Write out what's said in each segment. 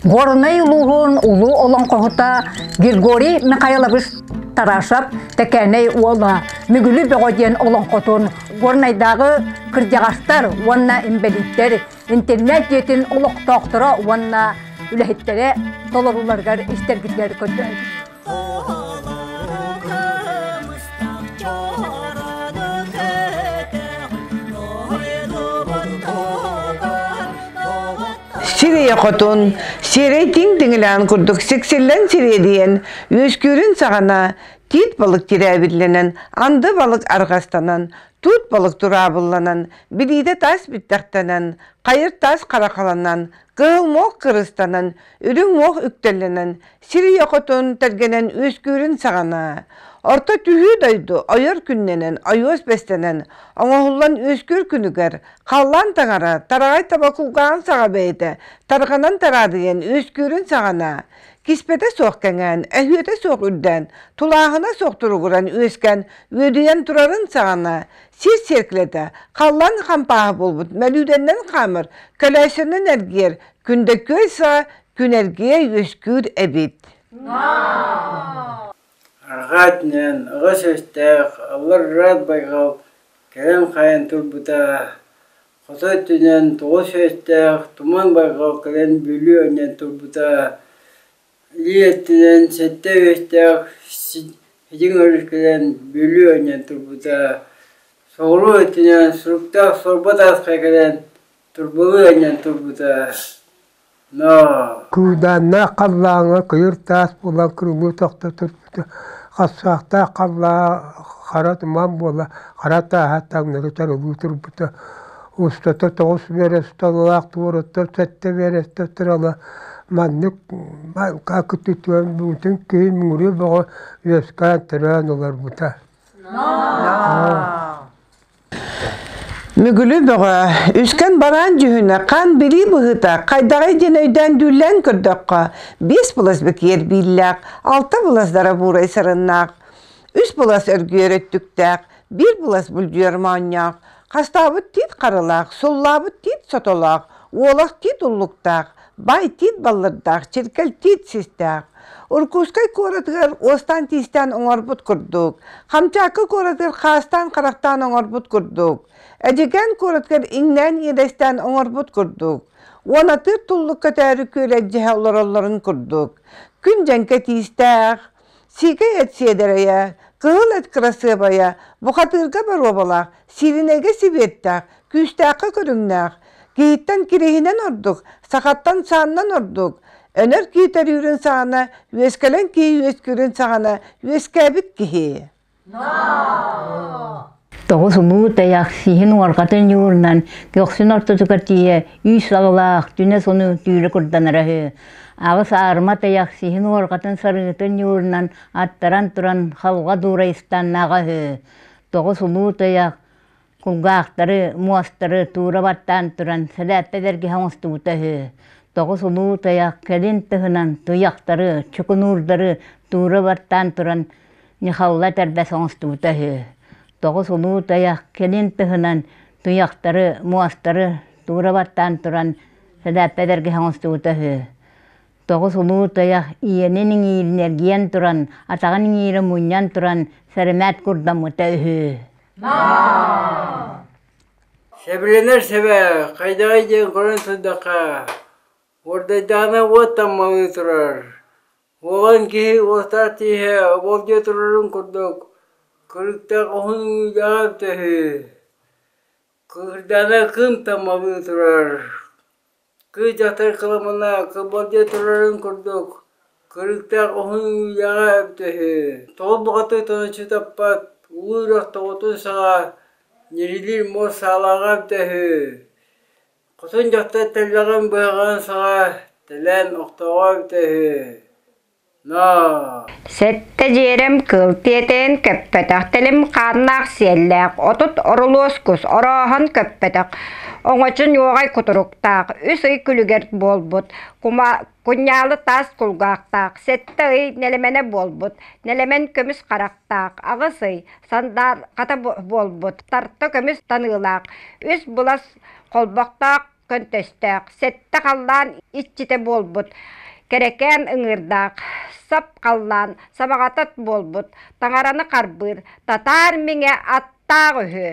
Горнай улууһун улуу олоҥхоһута Григорий Михайлович Тарашев Тэкээнэй уола Мүгүлү Бөҕө диэн олоҥхотун Горнайдааҕы кырдьаҕастар уонна инбэлииттэр интернет дьиэтин олохтоохторо уонна үлэһиттэрэ толорууларыгар истэргитигэр көрдөһөбүт. Сирия хотун, сиэрейтин тиҥилээн курдук сиксиллэн сириэдийэн, үөскүүрүн саҕана тиит балык тирээбиллэнэн, анды балык арҕастанан, туут балык тураабылланан, билиитэ тас бүттэхтэнэн, хайыр тас харахаланан, кыыл мох кырыстанан, үрүҥ мох үктэллэнэн, Сирийэ-хотун тэлгэнэн үөскүүрүн саҕана, орто түһүү дойду ойор күннэнэн ойуос бэстэнэн оҥоһуллан үөскүүр күнүгэр халлаан таҥара тараҕай таба кулгааҕын саҕа бэйэтэ тарҕанан тараадыйан үөскүүрүн саҕана, киспэтэ суох кэҥээн, өһүөтэ суох үрдээн, тулааһына суох туругуран үөскээн үөдүйэн турарын саҕана, сир сиэркилэтэ халлаан хампааһа буолбут мөлүйүөннэн хаамар көлөөсөнөн эргийэр күндэкүөй саа Күнэргиэ үөскүүр эбит Арҕаа өттүнэн аҕа сүүстээх алларраат байҕал кэлэн хаайан турбута хото өттүнэн тоҕус сүүстээх туман байҕал кэлэн бүлүү анньан турбута илии өттүнэн сэттэ үөстээх сидьиҥ өрүс кэлэн бүлүү анньан турбута соҕуруу өттүнэн суруктаах сорба таасха кэлэн турбалыы анньан турбута Куудааннаах халлааҥҥа кыйыр таас булан кырылыы тохто турбута, хассаахтаах халлаа хара туман буола хара тааһа таҥнары тарылыы турбута, устата тоҕус миэрэ суталлаах туоруттар сэттэ миэрэстэ турала маннык кытытыан буутун киһин мууруй бөҕө үөскээн төрөөн олорбута Мүгүлү бөҕө, үскэн бараан дьүһүнэ хаан билии быһыыта хайдаҕай диэн өйдөөн дүүллээн көрдөххө, биэс былас бэкиэр бииллээх, алта былас дарабуурай сарыннаах, үс былас өргүөр өттүктээх, биир былас бүлдьүөр моонньоох, хастаабыт тиит харылаах, суллаабыт тиит сотолоох, уолах тиит уллуктаах, Байтиит баллырдаах, чиркэлтиит систээх. Уркуускай куоратыгар уостаан-тиистээн оҥорбут курдук, Хамчаакка куоратыгар хаастаан-харахтаан оҥорбут курдук, Эдьигээн куоратыгар иҥнээн-иидэстээн оҥорбут курдук, уонатыыр туллук көтөөрү күөлэдьиһэ олороллорун курдук, күн дьэҥкэ тиистээх, Сиикэ эт сиэдэрэйэ, кыһыл эт кырасыабайа, бухатыырга боруобалаах, сиилинэйгэ сибиэттээх, күүстээххэ көрүҥнээх. Киһиттэн кириһинэн ордук, сахаттан сааннан ордук. Өнөр киһи төрүүрүн саҕана, үөскэлэн киһи үөскүүрүн саҕана үөскээбит киһи. Тоҕус улуу тайах сиһин уорҕатын ньуурунан көхсүн ортотугар тиийэ үүс сабылаах түнэ сону түүрэ курданара үһү. Аҕыс аарыма тайах сиһин уорҕатын сарыытын ньуурунан аттаран туран халҕа дуура истаннаҕа үһү. Тоҕус улуу тайах кулгаахтары, муостары туура баттаан туран сэлээппэ бэргэһэ оҥостубута үһү. Тоҕус улуу тайах кэлин тыһынан туйахтары, чукунуурдары туура баттаан туран Ньахалла этэрбэс оҥостубута үһү. Тоҕус улуу тайах кэлин тыһынан туйахтары, муостары туура баттаан туран сэлээппэ бэргэһэ оҥостубута үһү. тоҕус улуу тойох ийэнин иҥииринэргийэн туран атаҕын иҥиирэ мунньан туран сэрэмээт курдаммыта үһү Сабринар саба хайдаҕай диэн көрөн турдахха уордайдаана уоттан малыы турар уолан киһи уостаах тииһэ ол дьэ турарын курдук кырыктаах уһун уудаҕам төһү кыырдаана кын тамалыы турар Кыыдь атай кыламына кыбыл диэ турарын курдук, кырыыктаах уһун үүйэҕэ эбитэ үһү, тоҕо баҕатыйтан аччыытаппат уу үрэх тоҕотун саҕа ньирилиир муос саалааҕа эбитэ үһү, хотун дьахтар тэллэҕин быһаҕын саҕа тэлээн охтоҕо эбитэ үһү Сэттэ дьиэрим кыл тиэтэйэн көппөтөх, тилим хааннаах сиэллээх, отут орулуос кус, орооһон көппөтөх, оҥочун ньуоҕай кутуруктаах, үс ый күлүгэр буолбут, кунньаалы таас кулгаахтаах, сэттэ ый нэлэмэнэ буолбут, нэлэмэн көмүс харахтаах, аҕыс ый сандаарҕата буолбут, тарта көмүс таныылаах, үс булас холбохтоох көнтөстөөх, сэттэ халлаан иччитэ буолбут, кэрэкээн ыҥыырдаах, сап халлаан сабаҕатат буолбут, таҥараны харбыыр, татаар миҥэ аттаах үһү.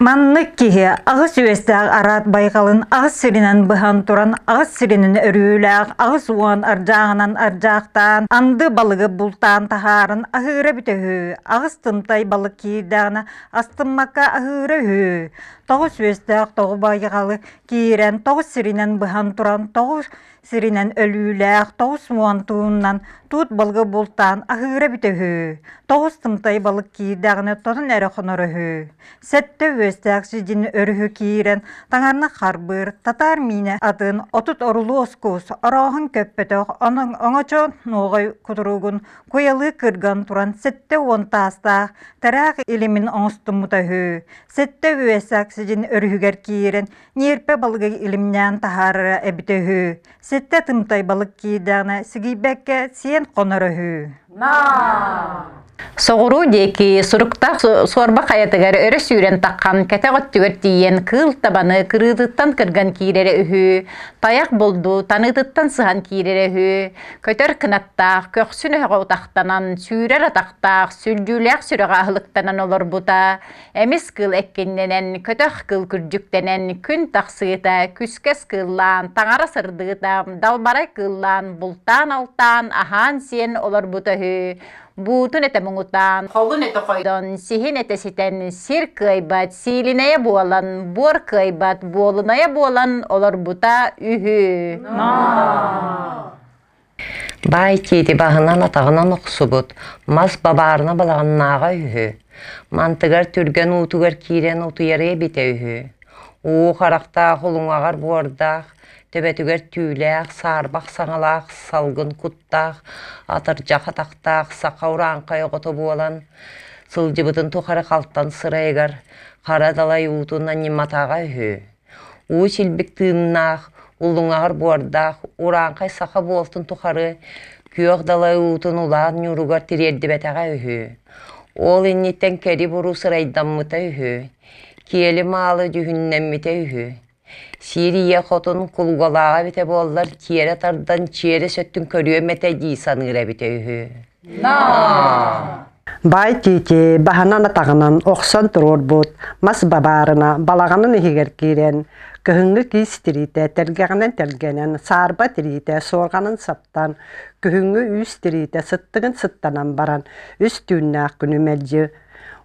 Маннык киһи аҕыс үөстээх араат байҕалын аҕыс сиринэн быһан туран аҕыс сиринэн өрүүлээх аҕыс уон ардьааҕынан ардьаахтаан анды балыгы бултаан таһааран аһыыра бүтэ үһү аҕыс тымтай балык киирдэҕинэ Астыммакка аһыыра үһү. Тоҕо сүөстээх, тоҕо байҕалы киирэн, тоҕо сиринэн быһан туран, тоҕо сиринэн өлүүлээх, тоҕо смуон тууннан туут балыгы бултаан аһыыра бүтэ үһү. Тоҕо ыстымтай балык киирдэҕинэ тотон эрэ хоноро үһү. Сэттэ үөстээх сидин өрүһү киирэн таҥарна харбыыр, татаар миинэ атын отут орулуос куус, орооһун көппөтөх, онон оҥочо нуоҕай кутуругун Куйалыы кырган туран сэттэ уон таастаах тыраах илимин оҥостуммута үһү. Сэттэ үөсэх сидин өрүһүгэр киирэн ньиэрпэ балыгы илимнээн таһаарара эбитэ үһү. Сэттэ тымтай балык киирдэҕинэ сигийбэккэ сиэн хоноро үһү. Соҕуруу диэки суруктаах суорба хайатыгар өрө сүүрэн таххан кэтэх өттүгэр тиийэн кыыл табаны кырыытыттан кырган киирэрэ үһү, тайах булду таныытыттан сыһан киирэрэ үһү, Көтөр кынаттаах, көхсүн өһөҕө утахтанан, сүүрэр атахтаах, сүлдьүүлээх сүрэҕэ аһылыктанан олорбута, эмис кыл эккиннэнэн, көтөх кыл күрдьүктэнэн, күн тахсыыта, күскэс кыыллаан, таҥара сырдыыта, далбарай кыыллаан, бултаан-алтаан, аһаан-сиэн олорбута үһү. Буутун этэ муҥутаан, холун этэ хойдон, сиһин этэ ситэн, сир кыайбат, сиилинэйэ буолан, буор кыайбат, буолунайа буолан олорбута үһү. Баай тиити баһынан атаҕынан охсубут, мас бабаарына балаҕаннааҕа үһү. Мантыгар түргэн уутугар киирэн утуйарыа эбитэ үһү. Уу харахтаах улуҥаҕар буордаах, төбөтүгэр түүлээх, саарбах саҥалаах салгын кут атахтаах, атырдьах атахтаах саха урааҥхай оҕото буолан сылдьыбытын тухары халтан сырайыгар хара далай уутунан ньыматаҕа үһү. Уу силбик тыыннаах, улуҥаҕар буордаах урааҥхай саха буолтун тухары күөх далай уутун улаан ньууругар тириэрдибэтэҕэ үһү. Ол инниттэн кэри буруу сырайдаммыта үһү. Киэли маалы дьүһүннэммитэ үһү. Сиэрийэ хотун кулугалааҕа эбитэ буоллар тиэрэ тардан чиэрэ сөттүн көрүөм этэ дии саныыр эбитэ үһү. Бай тиити баһанан атаҕынан охсон туруорбут мас бабаарына балаҕанын иһигэр киирэн кыһыҥҥы киис тириитэ тэлгэҕинэн тэлгэнэн саарба тириитэ суорҕанын саптан күһүҥҥү үүс тириитэ сыттыгын сыттанан баран үс түүннээх күнү мэлдьи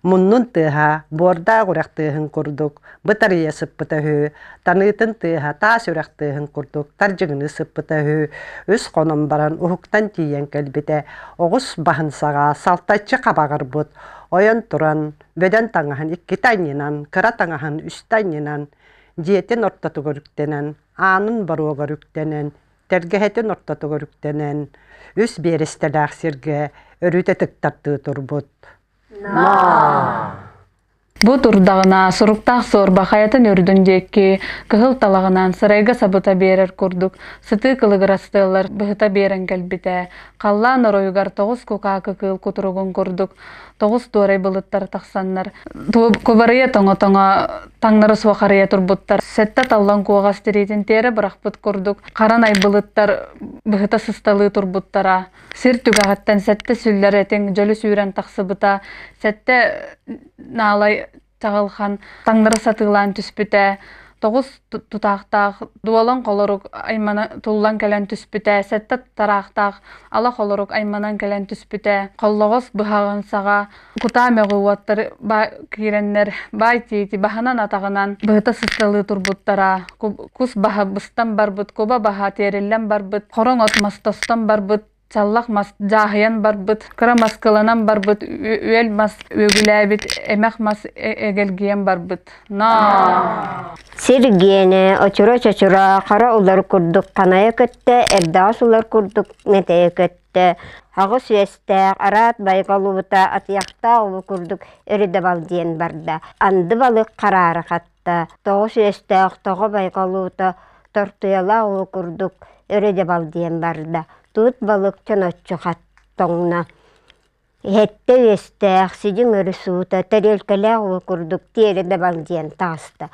Муннун тыаһа, буордаах үрэх тыаһын курдук бытарыйа сыппыта үһү. Таныытын тыаһа таас үрэх тыаһын курдук тардьыгыныы сыппыта үһү. Үс хонон баран уһуктан тиийэн кэлбитэ. Оҕус баһын саҕа салтаччы хабаҕырбыт. Ойон туран, бөдөн таҥаһын иккитэ анньынан, кыра таҥаһын үстэ анньынан, дьиэтин ортотугар үктэнэн, аанын боруогар үктэнэн, Тэлгэһэтин ортотугар үктэнэн, үс биэрэстэлээх сиргэ өрүтэ тыктардыы турбут. Бу турдаҕына суруктаах суорба хайатын үрдүн диэки кыһыл талаҕынан сарайга сабыта биэрэр курдук сытыы кылыгырастыаллар быһыта биэрэн кэлбитэ. Халлаан оройугар тоҕус кукаакы кыыл кутуругун курдук тоҕус туорай былыттар тахсаннар кубарыйа тоҥо-тоҥо таҥнары суох арыйа турбуттар сэттэ таллан куоҕас тириитин тиэрэ бырахпыт курдук хара найбылыттар быһыта сысталыы турбуттара сир түгэҕиттэн сэттэ сүллэр этиҥ дьөлү сүүрэн тахсыбыта сэттэ наалай таҕылхан таҥнары сатыылаан түспүтэ тоҕус тутаахтаах дуолан холорук аймана туллан кэлэн түспүтэ сэттэ тараахтаах ала холорук айманан кэлэн түспүтэ холлоҕос быһаҕын саҕа кутаа мөҕүү уоттар киирэннэр баай тиити баһынан атаҕынан быһыта сысталыы турбуттара кус баһа быстан барбыт куба баһа тиэриллэн барбыт хороҥ от мостостон барбыт Чаллах мас дьааһыйан барбыт, кыра маскыланан барбыт, үөл мас үөгүлээбит, эмэх мас эгэлгийэн барбыт. Наа! Сиргиэнэ очура-чочура, хара улар курдук ханайа көттө, эрдэҕэс улар курдук мэтэйэ көттө. Аҕыс үөстээх, араат байҕалыбыта, атыйахтаах улу курдук өрүдэ бал диэн барда. Анды балык хараары хатта. кытта тоҕус үөстээх тоҕо байҕалуута тортуйалаах уу курдук өрө-дьабал диэн барда туут балык чоноччу хаттоҥно иһэттэ үөстээх сидьиҥ өрүс уута тэриэлкэлээх уу курдук тиэрэ дабал диэн таҕыста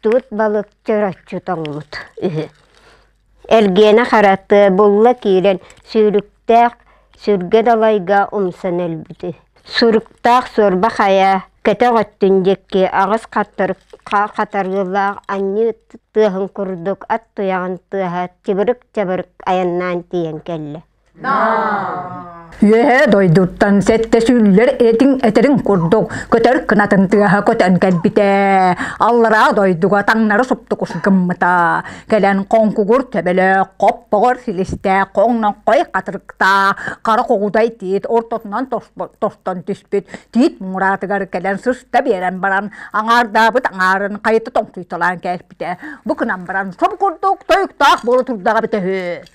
туут балык чороччу тоҥмут үһү Эргиэнэ хараты булла киирэн сүүрүктээх сүргэ далайга умсан өлбүтэ. Суруктаах суорба хайа көтөх өттүн диэки аҕыс хатарыылаах анньыы тыаһын курдук ат туйаҕын тыаһа чыбырык-чабырык айаннаан тиийэн кэллэ Үөһээ дойдуттан сэттэ сүүллэр этиҥ этэрин курдук көтөр кынатын тыаһа көтөн кэлбитэ. Аллараа дойдуга таҥнары суптукус гыммыта. Кэлэн хоҥкугур төбөлөөх, хоп-поҕор силистэ, хоҥноҥхой хатырыкта, хара хоҕудай тиит ортотунан тостон түспүт тиит муҥураатыгар кэлэн сыста биэрэн баран аҥаардаабыт аҥаарын хайыта тоҥсуйталаан кээспитэ. Бу гынан баран соб курдук тойуктаах буола турдаҕа битэ үһү.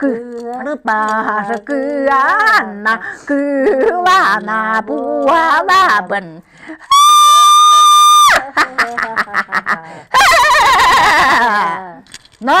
Кыпаша кыанна кыылана пуалабын Но